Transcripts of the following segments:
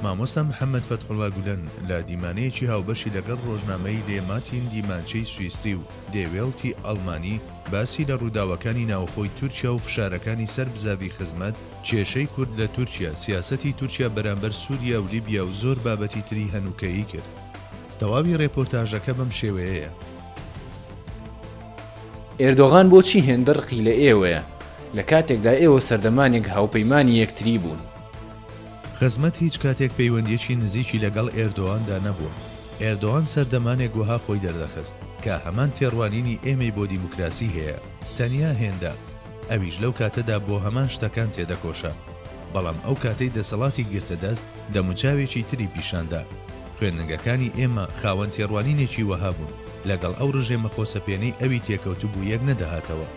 مامۆستا محەمەد فەتحوڵا گولەن لە دیمانەیەکی هاوبەشی لەگەڵ ڕۆژنامەی لێ ماتین دیمانچەی سویسری و دێ وێڵتی ئەڵمانی باسی لە ڕووداوەکانی ناوخۆی تورکیا و فشارەکانی سەر بزاڤی خزمەت کێشەی کورد لە تورکیا، سیاسەتی تورکیا بەرامبەر سوریا و لیبیا و زۆر بابەتی تری هەنووکەیی کرد. تەواوی ڕێپۆرتاژەکە بەم شێوەیەیە. ئێردۆغان بۆچی هێندە ڕقی لە ئێوەیە، لە کاتێکدا ئێوە سەردەمانێک هاوپەیمانی یەکتری بوون؟ خزمەت هیچ کاتێک پەیوەندییەکی نزیکی لەگەڵ ئێردۆاندا نەبووە. ئێردۆان سەردەمانێک وەها خۆی دەردەخست کە هەمان تێڕوانینی ئێمەی بۆ دیموکراسی هەیە، تەنیا هێندە، ئەویش لەو کاتەدا بۆ هەمان شتەکان تێدەکۆشا. بەڵام ئەو کاتەی دەسەڵاتی گرتە دەست، دەموچاوێکی تری پیشان دا. خوێندنگەکانی ئێمە خاوەن تێڕوانینێکی وەها بوون، لەگەڵ ئەو ڕژێمە خۆسەپێنەی ئەوی تێکەوتبوو یەک نەدەهاتەوە.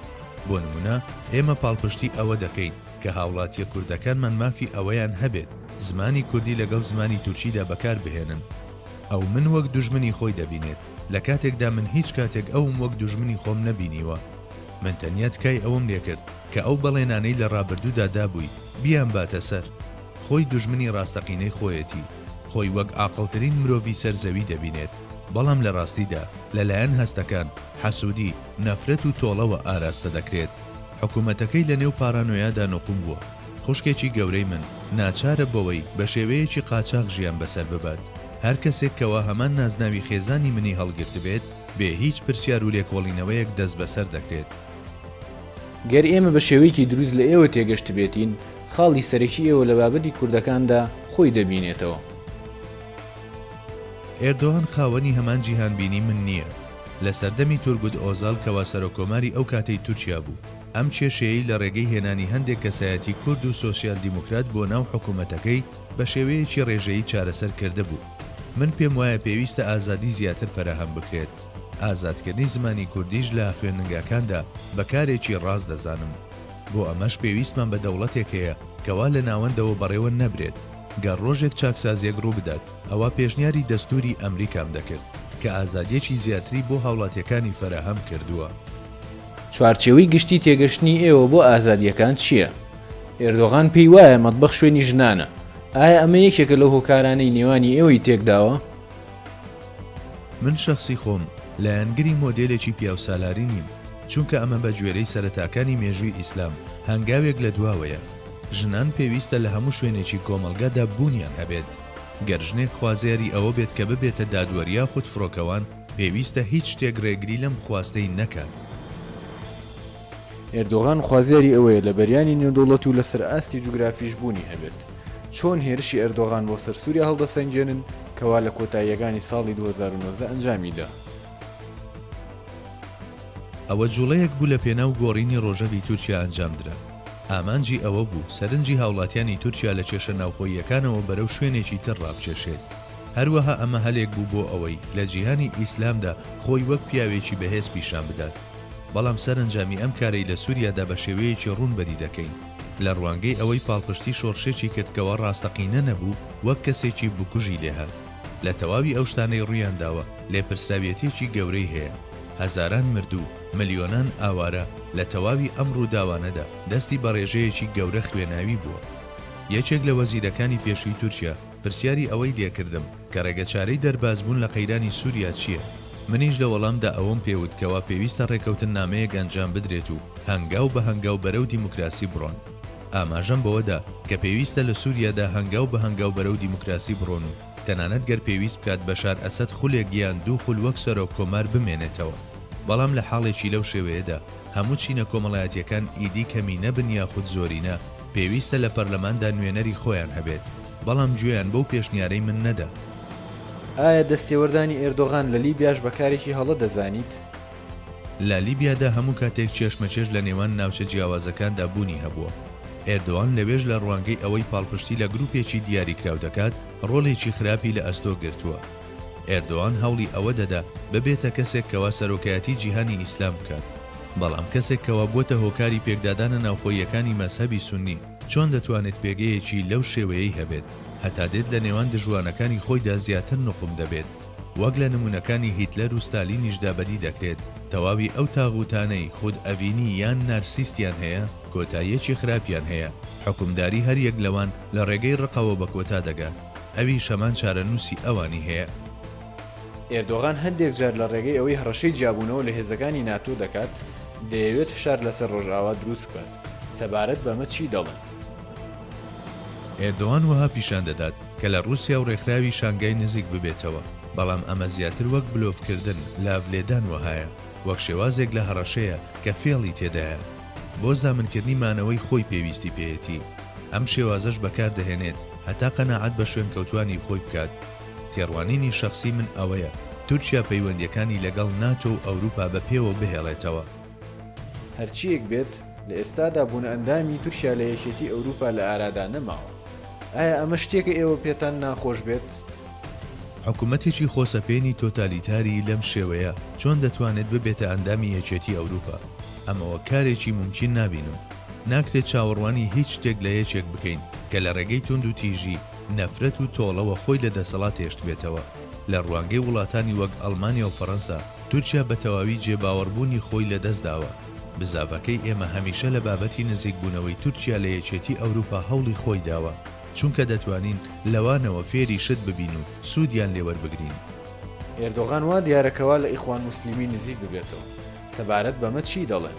بۆ نمونە ئێمە پاڵپشتی ئەوە دەکەین کە هاوڵاتیە کوردەکانمان مافی ئەوەیان هەبێت زمانی کوردی لەگەڵ زمانی تورکیدا بەکار بهێنن. ئەو من وەک دوژمنی خۆی دەبینێت، لە کاتێکدا من هیچ کاتێک ئەوم وەک دوژمنی خۆم نەبینیوە. من تەنیا تکای ئەوەم لێکرد کە ئەو بەڵێنانەی لە ڕابردوودا دابووی بیانباتە سەر. خۆی دوژمنی ڕاستەقینەی خۆیەتی. خۆی وەک ئاقڵترین مرۆڤی سەر زەوی دەبینێت، بەڵام لە ڕاستیدا لەلایەن هەستەکان، حەسوودی، نەفرەت و تۆڵەوە ئاراستە دەکرێت. حکوومەتەکەی لە نێو پارانۆیادا نقوم بووە. خوشکێکی گەورەی من ناچارە بەوەی بە شێوەیەکی قاچاخ ژیان بەسەر ببات. هەر کەسێک کەوا هەمان نازناوی خێزانی منی هەڵگرتبێت، بێ هیچ پرسیار و لێکۆڵینەوەیەک دەستبەسەر دەکرێت. گەر ئێمە بە شێوەیەکی دروست لە ئێوە تێگەشتبێتین، خاڵی سەرەکی ئێوە لە بابەتی کوردەکاندا خۆی دەبینێتەوە. ئێردۆغان خاوەنی هەمان جیهانبینی من نییە. لە سەردەمی تورگوت ئۆزال کەوا سەرۆککۆماری ئەو کاتەی تورکیا بوو، ئەم کێشەیەی لە ڕێگەی هێنانی هەندێک کەسایەتی کورد و سۆسیال دیموکرات بۆ ناو حکوومەتەکەی بە شێوەیەکی ڕێژەیی چارەسەر کردبوو. من پێم وایە پێویستە ئازادی زیاتر فەراهەم بکرێت. ئازادکردنی زمانی کوردیش لە خوێندنگاکاندا بە کارێکی ڕاست دەزانم. بۆ ئەمەش پێویستمان بە دەوڵەتێک هەیە کە وا لە ناوەندەوە بەڕێوە نەبرێت، گەر ڕۆژێک چاکسازییەک ڕووبدات ئەوا پێشنیاری دەستووری ئەمریکام دەکرد کە ئازادییەکی زیاتری بۆ هاوڵاتییەکانی فەراهەم کردووە. چوارچێوەی گشتی تێگەشتنی ئێوە بۆ ئازادییەکان چییە؟ ئێردۆغان پێی وایە مەتبەخ شوێنی ژنانە، ئایا ئەمە یەکێکە لەو هۆکارانەی نێوانی ئێوەی تێکداوە؟ من شەخسی خۆم لایەنگری مۆدێلێکی پیاوسالاری نیم، چونکە ئەمە بە گوێرەی سەرەتاکانی مێژووی ئیسلام هەنگاوێک لە دواوەیە. ژنان پێویستە لە هەموو شوێنێکی کۆمەڵگادا بوونیان هەبێت. گەر ژنێک خوازیاری ئەوە بێت کە ببێتە دادوەر یاخود فڕۆکەوان، پێویستە هیچ شتێک رێگری لەم خواستەی نەکات. ئێردۆغان خوازیاری ئەوەیە لە بەریانی نێودەوڵەت و لەسەر ئاستی جوگرافیش بوونی هەبێت. چۆن هێرشی ئێردۆغان بۆ سەر سووریا هەڵدەسەنگێنن کە وا لە کۆتاییەکانی ساڵی دوو هەزار و نۆزدە ئەنجامی دا؟ ئەوە جووڵەیەک بوو لە پێناو گۆڕینی ڕۆژەڤی تورکیا ئەنجام درا. ئامانجی ئەوە بوو سەرنجی هاوڵاتیانی تورکیا لە کێشە ناوخۆییەکانەوە بەرەو شوێنێکی تر ڕابکێشێت. هەروەها ئەمە هەلێک بوو بۆ ئەوەی لە جیهانی ئیسلامدا خۆی وەک پیاوێکی بەهێز پیشان بدات. بەڵام سەرەنجامی ئەم کارەی لە سوریادا بە شێوەیەکی ڕوون بەدی دەکەین لە ڕوانگەی ئەوەی پاڵپشتی شۆڕشێکی کرد کەوا ڕاستەقینە نەبوو وەک کەسێکی بکوژی لێهات لە تەواوی ئەو شتانەی ڕوویانداوە لێپرسراویەتیەکی گەورەی هەیە هەزاران مردوو ملیۆنان ئاوارە لە تەواوی ئەم ڕووداوانەدا دەستی بە ڕێژەیەکی گەورە خوێناوی بووە یەکێک لە وەزیرەکانی پێشووی تورکیا پرسیاری ئەوەی لێکردم کە ڕێگەچارەی دەربازبوون لە قەیرانی سووریا چییە؟ منیش لە وەڵامدا ئەوەم پێ وت کەوا پێویستە ڕێکەوتننامەیەک ئەنجام بدرێت و هەنگاو بە هەنگاو بەرەو دیموکراسی بڕۆن. ئاماژەم بەوە دا کە پێویستە لە سووریادا هەنگاو بە هەنگاو بەرەو دیموکراسی بڕۆن و تەنانەت گەر پێویست بکات بەشار ئەسەد خولێک یان دوو خول وەک سەرۆک کۆمار بمێنێتەوە. بەڵام لە حاڵێکی لەو شێوەیەدا هەموو چینە کۆمەڵایەتییەکان ئیدی کەمینە بن یاخود زۆرینە، پێویستە لە پەرلەماندا نوێنەری خۆیان هەبێت. بەڵام گوێیان بەو پێشنیارەی من نەدا. ئایا دەستێوەردانی ئێردۆغان لە لیبیاش بە کارێکی هەڵە دەزانیت؟ لە لیبیادا هەموو کاتێک کێشمەکێش لە نێوان ناوچە جیاوازەکاندا بوونی هەبووە. ئێردۆان لەوێش لە ڕوانگەی ئەوەی پاڵپشتی لە گرووپێکی دیاریکراو دەکات، ڕۆڵێکی خراپی لە ئەستۆ گرتووە. ئێردۆان هەوڵی ئەوە دەدا ببێتە کەسێک کەوا سەرۆکایەتی جیهانی ئیسلام بکات. بەڵام کەسێک کەوا بووەتە هۆکاری پێکدادانە ناوخۆییەکانی مەزهەبی سوننی. چۆن دەتوانێت پێگەیەکی لەو شێوەیەی هەبێت، هەتا دێت لە نێوان دژوانەکانی خۆیدا زیاتر نوقم دەبێت، وەک لە نموونەکانی هیتلەر و ستالینیشدا بەدی دەکرێت، تەواوی ئەو تاغووتانەی خود ئەڤینی یان نارسیستیان هەیە، کۆتاییەکی خراپیان هەیە، حوکمداری هەر یەک لەوان لە ڕێگەی ڕقەوە بە کۆتا دەگات، ئەویش هەمان چارەنووسی ئەوانی هەیە. ئێردۆغان هەندێک جار لە ڕێگەی ئەوەی هەڕەشەی جیابوونەوە لە هێزەکانی ناتۆ دەکات، دەیەوێت فشار لەسەر ڕۆژئاوا دروست بکات، سەبارەت بەمە چی دەڵێن؟ ئێردۆان وەها پیشان دەدات کە لە ڕووسیا و ڕێکخراوی شانگای نزیک ببێتەوە، بەڵام ئەمە زیاتر وەک بلۆفکردن، لاڤ لێدان وەهایە، وەک شێوازێک لە هەڕەشەیە کە فێڵی تێدایە. بۆ زامنکردنی مانەوەی خۆی پێویستی پێیەتی. ئەم شێوازەش بەکاردەهێنێت هەتا قەناعەت بە شوێنکەوتووانی خۆی بکات. تێڕوانینی شەخسی من ئەوەیە تورکیا پەیوەندییەکانی لەگەڵ ناتۆ و ئەوروپا بە پێوە بهێڵێتەوە. هەرچییەک بێت، لە ئێستادا بوونئەندامی تورکیا لە یەکێتی ئەوروپا لە ئارادا نەماوە. ئایا ئەمە شتێکە ئێوە پێتان ناخۆش بێت؟ حکومەتێکی خۆسەپێنی تۆتالیتاری لەم شێوەیە چۆن دەتوانێت ببێتە ئەندامی یەکێتی ئەوروپا؟ ئەمە وەک کارێکی مومکین نابینم. ناکرێت چاوەڕوانی هیچ شتێک لە یەکێک بکەین کە لە ڕێگەی توندوتیژی، نەفرەت و تۆڵەوە خۆی لە دەسەڵات هێشتبێتەوە. لە ڕوانگەی وڵاتانی وەک ئەڵمانیا و فەڕەنسا، تورکیا بە تەواوی جێباوەڕبوونی خۆی لەدەستداوە. بزاڤەکەی ئێمە هەمیشە لە بابەتی نزیکبوونەوەی تورکیا لە یەکێتی ئەوروپا هەوڵی خۆی داوە، چونکە دەتوانین لەوانەوە فێری شت ببین و سوودیان لێ وەربگرین. ئێردۆغان وا دیارە کە وا لە ئیخوان موسلیمی نزیک ببێتەوە. سەبارەت بەمە چی دەڵێن؟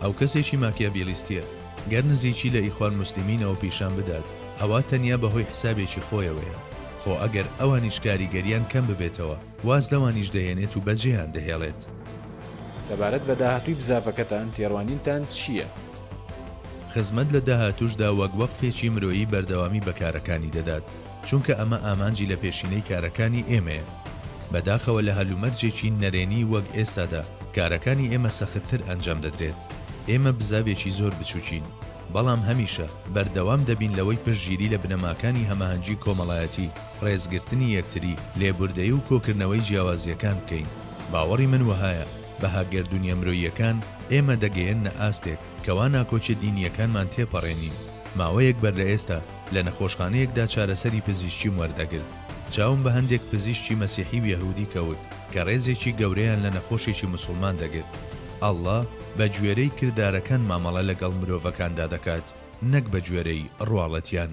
ئەو کەسێکی ماکیاڤیلیستییە. گەر نزیکی لە ئیخوان موسلیمینەوە پیشان بدات ئەوا تەنیا بە هۆی حسابێکی خۆیەوەیە، خۆ ئەگەر ئەوانیش کاریگەریان کەم ببێتەوە واز لەوانیش دەهێنێت و بەجێیان دەهێڵێت. سەبارەت بە داهاتووی بزاڤەکەتان تێڕوانینتان چییە؟ خزمەت لە داهاتووشدا وەک وەقفێکی مرۆیی بەردەوامی بە کارەکانی دەدات، چونکە ئەمە ئامانجی لە پێشینەی کارەکانی ئێمەیە. بەداخەوە لە هەلومەرجێکی نەرێنی وەک ئێستادا کارەکانی ئێمە سەختتر ئەنجام دەدرێت. ئێمە بزاڤێکی زۆر بچوکین، بەڵام هەمیشە بەردەوام دەبین لەوەی پشتگیری لە بنەماکانی هەماهەنگی کۆمەڵایەتی، ڕێزگرتنی یەکتری، لێبوردەیی و کۆکردنەوەی جیاوازییەکان بکەین. باوەڕی من وەهایە بەها گەردونیە مرۆییەکان ئێمە دەگەیەننە ئاستێک، کەوا ناکۆکیە دینیەکانمان تێپەڕێنین، ماوەیەک بەر لەئێستا لە نەخۆشخانەیەکدا چارەسەری پزیشکیم وەردەگرت، چاوم بە هەندێک پزیشکی مەسیحی و یەهودی کەوت کە ڕێزێکی گەورەیان لە نەخۆشێکی موسڵمان دەگرت، اللە بە گوێرەی کردارەکان مامەڵە لەگەڵ مرۆڤەکاندا دەکات نەک بە گوێرەی ڕواڵەتیان.